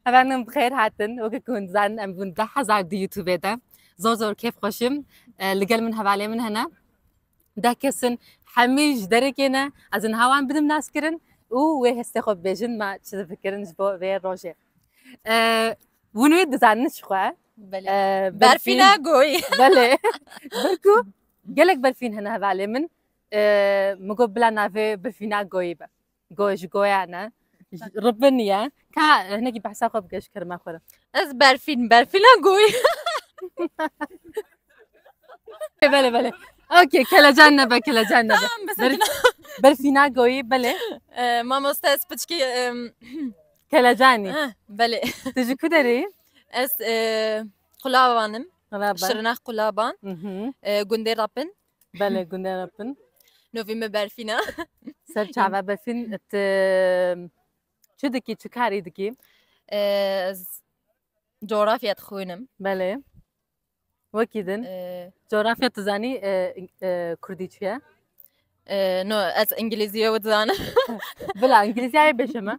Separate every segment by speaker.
Speaker 1: Hevanim bi xêr hatin. Weke ku hûn dizanin em bûn deh hezar di YouTubeê de. Zor zor kêf xweşim. Li gel min hevalê min hene. Deh kesin hemî ji derekê ne. Ez ên hewan bidim naskirin û wê hestê xwe bibêjin me çi difikirin ji bo vê rojê. Hûn wê dizanin ji xwe.
Speaker 2: Berfîna goyî. Belê.
Speaker 1: Ber ku gelek berfîn hene hevalê min. Min got bila navê berfîna goyî be. Goy ji goyan e. Ribin ye. Ka hinekî behsa xwe bike ji kerema xwe re. Ez berfîn
Speaker 2: berfîna goy.
Speaker 1: Belê belê. Okê kelecan nebe kelecan nebe. Tamam bi Ber- sakina. Berfîna goyî belê. Ee, Mamoste
Speaker 2: ez piçkî em,
Speaker 1: Kelecanî. eh, belê. Tu
Speaker 2: ji ku derê?
Speaker 1: Ez e,
Speaker 2: qulabanim. Qulaban.
Speaker 1: Şirnex qulaban.
Speaker 2: Mhm. E, gundê Rapin. Bele gunde re
Speaker 1: bin. Novî me
Speaker 2: berfîna. Ser çava
Speaker 1: befîn ti çi dikî çi karî dikî? Ez
Speaker 2: coğrafya dixwînim. Belê.
Speaker 1: Wekî din. Coğrafya tu zanî e, e, kurdî çi ye?
Speaker 2: No, ez îngilîzî wê dizanim. Bila
Speaker 1: îngilîzîyayê bêje me.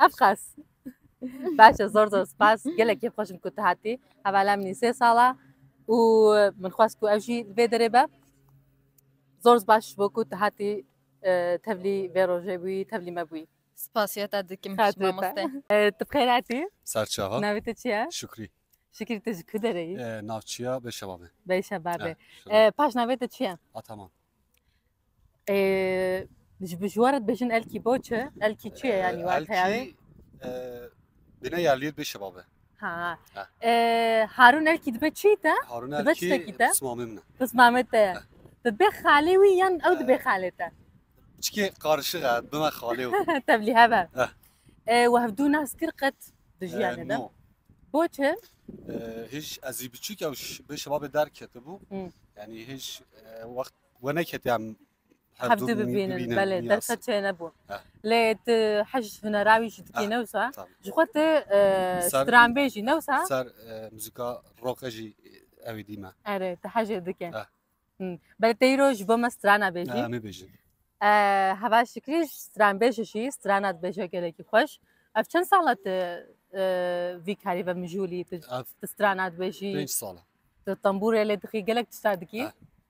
Speaker 1: Ev qas. Baş e zor zor spas. Gelek keyf xweşim ku tu hatî. Hevala min sê sala û min xwest ku ev jî li vê derê be. Zor baş ji bo ku tu hatî e, tevlî vê rojê bûyî, tevlî me bûyî. Spasiyeta dikim
Speaker 2: ji Xatirê te. mamoste. E, Tu bi xêr hatî?
Speaker 1: Serçava. Navê te
Speaker 3: çi ye? Şükrî.
Speaker 1: Şikir
Speaker 3: tu ji ku
Speaker 1: derê yî? Ee, Navçiya Beşevabê.
Speaker 3: Beyşebabê. Ee,
Speaker 1: E, Paş navê te çi ye? Ataman. Ji bi ji we re dibêjin elkî bo çi? Elkî çi ye yanî wê heya wê? Elkî
Speaker 3: bêne ya lîr bê şeba be. Ha.
Speaker 1: Harûn elkî dibe çi te? Harûn Dibe elkî çitekî
Speaker 3: te? pismamê min e. Pismamê te ye.
Speaker 1: Te dibê xalê wî yan ew dibê xalê te? Çikê
Speaker 3: qarişiq e bime xalê wî. Tevlî hebe.
Speaker 1: We hevdû nas kir qet di jiyanê de? No. Bo çi? Hêj
Speaker 3: ezî biçûk ew bê şeba be derketibû. Yanî hêj wext We neketiya hevdu bibînin
Speaker 1: belê derfet çê nebû lê tu hej hunera wî jî dikî newsa ji xwe tu stranbêjî newsa ser muzîka
Speaker 3: roqe jî ewê dîme erê tu hejê dike
Speaker 1: belê te îro ji bo me strana bêjî em bêjin
Speaker 3: heva
Speaker 1: şikrî stranbêje jî strana dibêje gelekî xweş ev çend sala tu vî karî ve mijûlî tu strana dibêjî pênc sala tu
Speaker 3: tembûrê lê
Speaker 1: dixî gelek tişta dikî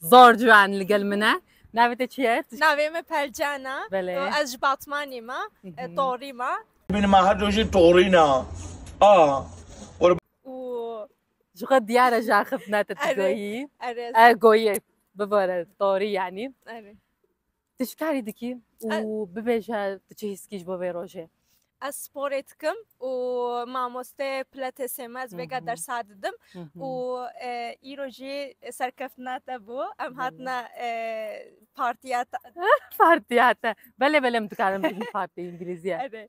Speaker 1: Zor ciwan li gel min e. Navê te çi ye? Navê min Pelcan
Speaker 2: e. Belê. Ez ji
Speaker 1: Batmanê
Speaker 2: me, e, Torî me. Min ma her rojê
Speaker 4: torî ne. A.
Speaker 2: Û Ji xwe diyar
Speaker 1: e ji axiftina te tu Erê. goyî. erê, E goyî. Bibare torî yanî. erê. Tu çi karî dikî û bibêje tu çi hîs dikî ji bo vê rojê? Ez sporê
Speaker 2: dikim û mamoste pilatesê me ez vêga dersa didim û îro jî serkeftina te bû em hatine partiya te.
Speaker 1: Partiya te belê belê min dikarim bibim partiya îngilîzî ye.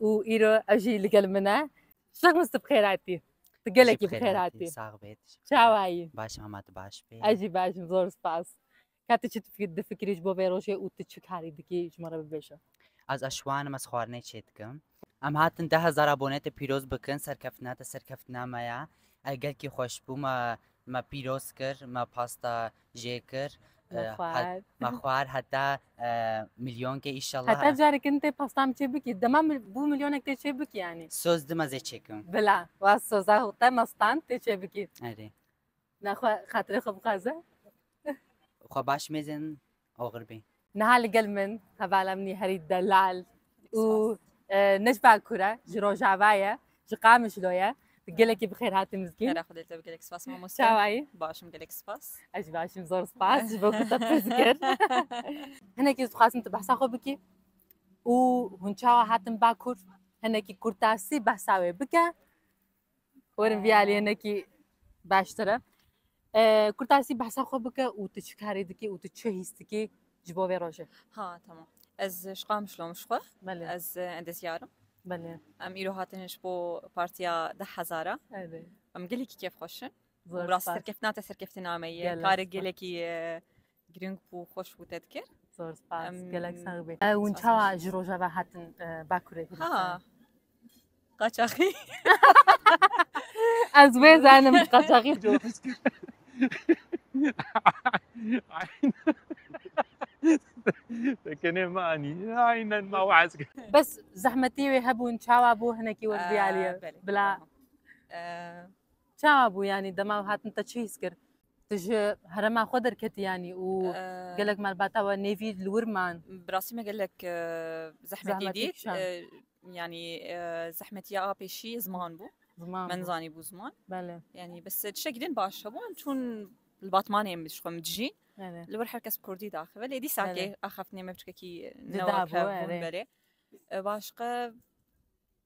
Speaker 1: û îro ew jî li gel min e. Şexmus tu bi xêr hatî. Tu gelekî bi xêr hatî. Sax bê. Çawa
Speaker 5: yî? Baş
Speaker 1: hema tu baş
Speaker 5: bî. Ez jî baş im zor spas.
Speaker 1: Ka tu çi difikirî ji bo vê rojê û tu çi karî dikî ji min re bibêje. Ez eşwan
Speaker 5: im ez xwarinê çê dikim. Em hatin deh hezar abone te pîroz bikin serkeftina te serkeftina me ye. Gelkî xweş bû me me pîroz kir me pasta jê kir me xwar heta milyonkê îşallah heta carek in tê pastan
Speaker 1: çê bikî dema bû milyonek tê çê bikî yanî soz dima zê çêkim
Speaker 5: bila wa soza
Speaker 1: te mastan tê çê bikî erê
Speaker 5: naxwe
Speaker 1: xatirê xwe bixwaze
Speaker 5: xwe baş mêzin oxir bê Niha li gel min
Speaker 1: hevala min herî delal û Necba Kure ji Rojava ye, ji Qamişlo ye. Gelekî bi xêr hatî mizgîn. Xêra xwedê te bi gelek spas
Speaker 6: mamoste. Çawayî? Başim gelek
Speaker 1: spas.
Speaker 6: Ez jî başim zor
Speaker 1: spas ji bo ku te pirs kir. Hinekî ez dixwazim tu behsa xwe bikî û hûn çawa hatin Bakur hinekî kurtasî behsa wê bike Werin vî aliyê nekî baştir e. Ee, Kurtarsî behsa xwe bike û tu çi karî dikî û tu çi hîs dikî ji bo vê rojê. Ha tamam.
Speaker 6: Ez ji Qamişlo im ji xwe. Belê, Ez e,
Speaker 1: endezyar
Speaker 6: im. belê. Em
Speaker 1: îro hatine
Speaker 6: ji bo partiya deh hezara. Erê. Em
Speaker 1: gelekî kêfxweş
Speaker 6: in. Zor Rastî spas. serkeftina
Speaker 1: te
Speaker 6: serkeftina
Speaker 1: me
Speaker 6: ye. Gelek Karê spas. gelekî e, Girîng bû xweş bû te dikir. Zor spas
Speaker 1: gelek sağ bî. Ew çawa ji rojava hatin Bakurê Kurdistan?
Speaker 6: Ha. Qaçaxî.
Speaker 1: Ez wê zanim qaçaxî bû.
Speaker 7: Tekenê me anî. Aynen ma waz. Bes zehmetî
Speaker 1: wê hebûn çawa bû hinekî wer diyariye. Bila. Çawa bû yanî dema hatin te çi hîs kir? Tu ji herema xwe derketiyanî û gelek malbata we nêvî li wir man. Bi rastî me gelek
Speaker 6: zehmetî dît. Yanî zehmetiya a pêşî ziman bû. Ziman. Me nizanî bû
Speaker 1: ziman.
Speaker 6: Belê. Yanî bis
Speaker 1: tişekî
Speaker 6: din baş hebû em çûn li batmanê em ji xwe min dijîn. Li wir her kes
Speaker 1: kurdî
Speaker 6: daxe belê dîsakê axaftinê me biçkekî newa hebûn
Speaker 1: belê.
Speaker 6: Başqa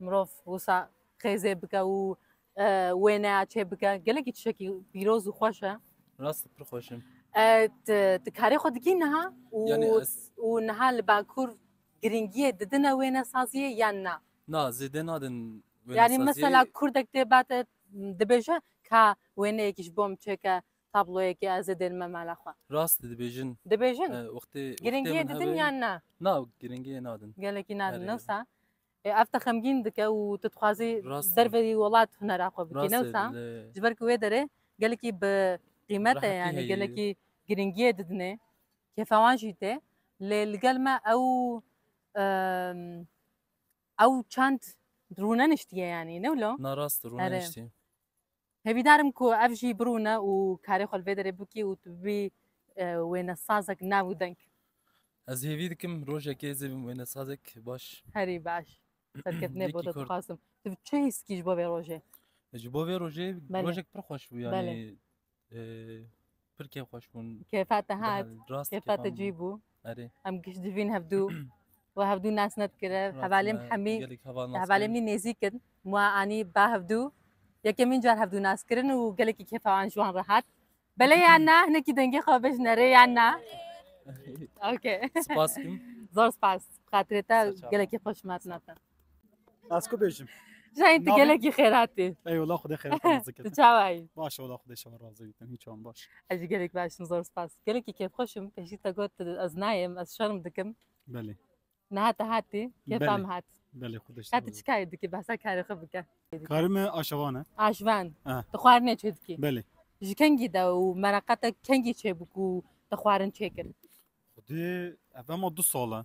Speaker 1: Mirov wisa xêzê bike û wêneya çê bike gelekî tişekî pîroz û xweş e. Rast pir xweş
Speaker 7: in. Ti
Speaker 1: karê xwe dikî niha
Speaker 7: û niha li
Speaker 1: Bakur girîngiyê didine wênesaziyê yan na? Na zêde nadin
Speaker 7: wênesaziyê. Yanî mesela
Speaker 1: kurdek tê ba te dibêje ka wêneyekî ji bo min çêke tabloyekê ez ê dêrime mala xwe. Rast dibêjin.
Speaker 7: Dibêjin? Wextê
Speaker 1: girîngiyê
Speaker 7: didin yan
Speaker 1: na? Na girîngiyê
Speaker 7: nadin. Gelekî nadin. Newsa E,
Speaker 1: ev te xemgîn dike û tu dixwazî Rast e. derve yê
Speaker 7: welat hunera
Speaker 1: xwe bikî Rast e, newsa li- ji
Speaker 7: ber
Speaker 1: ku wê derê gelekî bi qîmet e Rehetî yanî heye. gelekî
Speaker 7: girîngiyê
Speaker 1: didine kêfa wan jî tê lê li gel me ew em, ew çend rûneniştiye yanî ne wilo? Na rast e, Erê. rûneniştiye.
Speaker 7: Hêvîdar
Speaker 1: im ku ev jî birûne û karê xwe li vê derê bikî û tu bibî wênesazek nav û deng. Ez hêvî
Speaker 7: dikim rojekê ez ê bim wênesazek baş. Herî baş.
Speaker 1: Serketinê bo te dixwazim.
Speaker 7: Tu bi
Speaker 1: çi hîs kî ji bo vê rojê? Ji bo vê rojê
Speaker 7: rojek pir xweş
Speaker 1: bû yanî.
Speaker 7: Pir kêf xweş bûn. Kêfa te hat,
Speaker 1: Rast kêfa te cî
Speaker 7: bû.
Speaker 1: Erê. Em giştcivîn
Speaker 7: hevdû.
Speaker 1: We hevdû nas nedikire. Hevalê min hemî gelek heval nas. Hevalê min
Speaker 7: nêzîk in.
Speaker 1: Ma anî ba hevdû. Yekemîn car hevdû nas kirin û gelekî kêfa an ji wan re hat. Belê ya na hinekî dengê xwe bejin erê ya na. Okay. Spas kim.
Speaker 7: Zor spas.
Speaker 1: Xatirê te gelekî xweş me
Speaker 7: hatina te.
Speaker 1: Ez
Speaker 3: ku bêjim. Jayê tu gelekî
Speaker 1: xêratî. Eyvallah xwedê xêrata
Speaker 3: nazikin. Tu çawa yî? Baş e wala
Speaker 1: xwedê şewa
Speaker 3: razî bikin hiç wan baş. Ez jî gelek baş im zor
Speaker 1: spas. Gelekî kêfxweş im pêşî te got ez nayêm ez şerm dikim. Belê.
Speaker 3: Niha te hatî
Speaker 1: kêfa min hat. Belê xwedê şewa. Hatî
Speaker 3: çikayê dikî behsa
Speaker 1: karê xwe bike. Karê me
Speaker 3: aşevan e. Aşvan.
Speaker 1: Tu xwarinê çê
Speaker 3: dikî. Belê.
Speaker 1: Ji kengî
Speaker 3: de
Speaker 1: û mereqa te kengî çêbû ku
Speaker 3: te
Speaker 1: xwarin
Speaker 3: çêkir?
Speaker 1: Xwedê ev ema
Speaker 3: du sal
Speaker 1: e.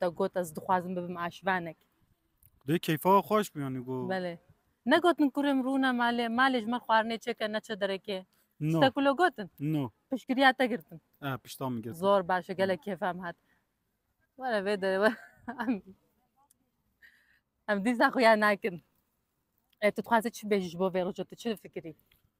Speaker 1: Te got ez dixwazim bibim aşvenek. Dê
Speaker 7: keyfa we xweş bi yanî got. Belê. Negotin
Speaker 1: kurê min rûne malê, malê ji me xwarinê çêke neçe derekê. No. Tiştek wilo gotin?
Speaker 7: No.
Speaker 1: Piştgiriya
Speaker 7: te girtin.
Speaker 1: Eh pişta min girtin. Zor
Speaker 7: baş e gelek kêfa
Speaker 1: min hat. Were vê derê we. Em- Em dîsa xuya nakin. E tu dixwazî çi bêjî ji bo vê roja tu çi difikirî?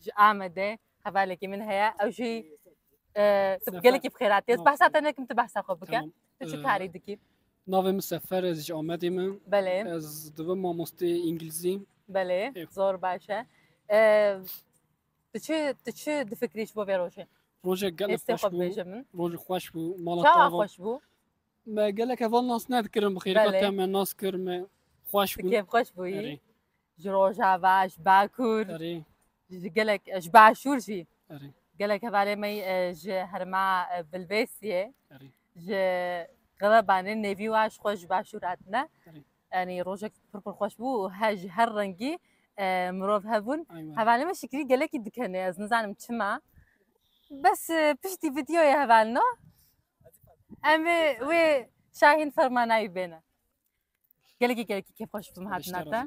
Speaker 1: Ji Amedê hevalekî min heye ew jî tu gelekî bi xêratî ez behsa te nekim tu behsa xwe bike tu çi karî dikî Navê min Sefer
Speaker 8: ez ji Amedê me Belê ez
Speaker 1: divim mamostê
Speaker 8: îngilîzî Belê zor
Speaker 1: baş e Tu çi tu çi difikrî ji bo vê rojê Rojê gelek
Speaker 8: xweş bû rojê
Speaker 1: xweş
Speaker 8: bû mala te xweş bû
Speaker 1: Me gelek
Speaker 8: heval nas nedikirin bi xêrîka te me nas kir
Speaker 1: me
Speaker 8: xweş bû kêf xweş bûyî
Speaker 1: ji
Speaker 8: rojava
Speaker 1: ji bakur erê ji
Speaker 8: gelek ji
Speaker 1: başûr jî erê gelek
Speaker 8: hevalê me yî,
Speaker 1: e, ji herma e, bilbêsiyê erê ji xebebanê nêvî wa ji xwe ji başûr hatine Erê. yanî
Speaker 8: rojek
Speaker 1: pir pir xweş bû û he ji her rengî e, mirov hebûn aywa hevalê me şikrî
Speaker 8: gelekî
Speaker 1: dikenê ez nizanim çima bes e, piştî vîdeoyê hevalino em ê wê şahîn fermanayî bêne Gelekî gelekî kêf xweş bûm hatina te.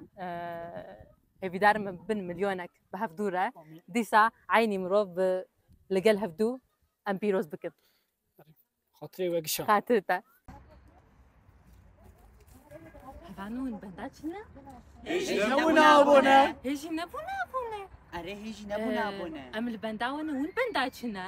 Speaker 1: Hêvîdar min bin milyonek bi hevdû re dîsa eynî mirov bi li gel hevdû em pîroz bikin.
Speaker 8: Xatirê we gişa. Xatirê te. Hevanûn benda
Speaker 1: çi ne? Hêjî nebûne abone. Hêjî nebûne
Speaker 5: abone. Erê hêjî
Speaker 1: nebûne
Speaker 5: abone. Em li benda wan û hûn
Speaker 1: benda çi ne?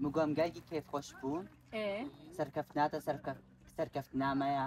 Speaker 3: Min
Speaker 5: got em gelekî kêfxweş bûn.
Speaker 1: Serkeftina te
Speaker 5: serkeftina me ya.